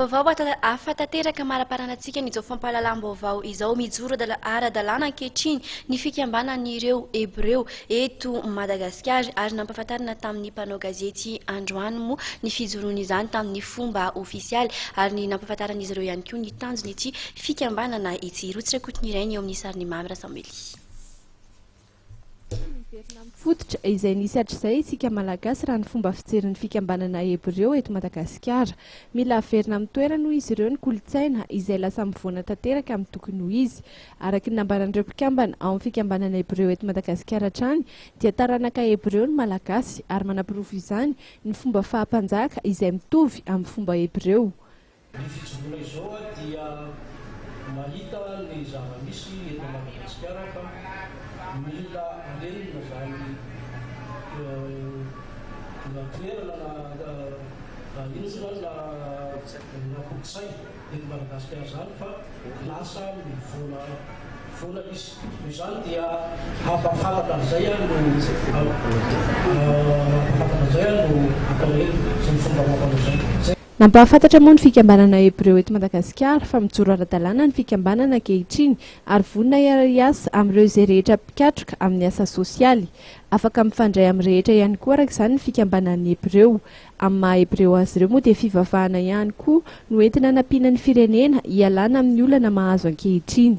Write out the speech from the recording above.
Vaovao hafa tanteraka amalaparana antsika an'izao fampahalalam-baovao izao, mijoro ara-dalàna ankehitriny ny fikambanan'ireo Hebreo eto Madagasikara ary nampahafantarina tamin'ny mpanao gazety androany moa ny fijoroany izany tamin'ny fomba ofisialy ary ny nampahafantaran'izy ireo ihany koa ny tanjon'ity fikambanana ity. Rotsy Rakotonirainy eo amin'ny sarin'i Mamy Rasamily. Tsy miverina amin'ny fototra izay nisy hatrizay isika Malagasy raha ny fomba fijerin'ny fikambanana Hebreo eto Madagasikara. Mila averina amin'ny toerany hoy izy ireo ny kolontsaina izay lasa mivoana tanteraka amin'ny tokony ho izy. Araka ny nambaran'ireo mpikambana ao amin'ny fikambanana Hebreo eto Madagasikara hatrany dia taranaka Hebreo ny Malagasy ary manaporofo izany ny fomba faha-mpanjaka izay mitovy amin'ny fomba Hebreo. Ny fijoroana izao aho dia mahita ny zava-misy eto Madagasikara fa mila arenina izany na toerana na inona na inona kolontsaina eto Madagasikara izany fa lasa mivoana foana izy. Noho izany dia hampafantatra an'izay aho no hampafantatra an'izay aho no atao eto sy ny fomba amam-panao izay. Nampahafantatra moa ny fikambanana Hebreo eto Madagasikara fa mijoro ara-dalàna ny fikambanana ankehitriny ary vonona hiara-hiasa amin'ireo izay rehetra mpikatroka amin'ny asa sosialy. Afaka mifandray amin'ny rehetra ihany koa araka izany ny fikambanan'ny Hebreo. Amin'ny maha Hebreo azy ireo moa dia fivavahana ihany koa no entina anampiana ny firenena hialana amin'ny olana mahazo ankehitriny.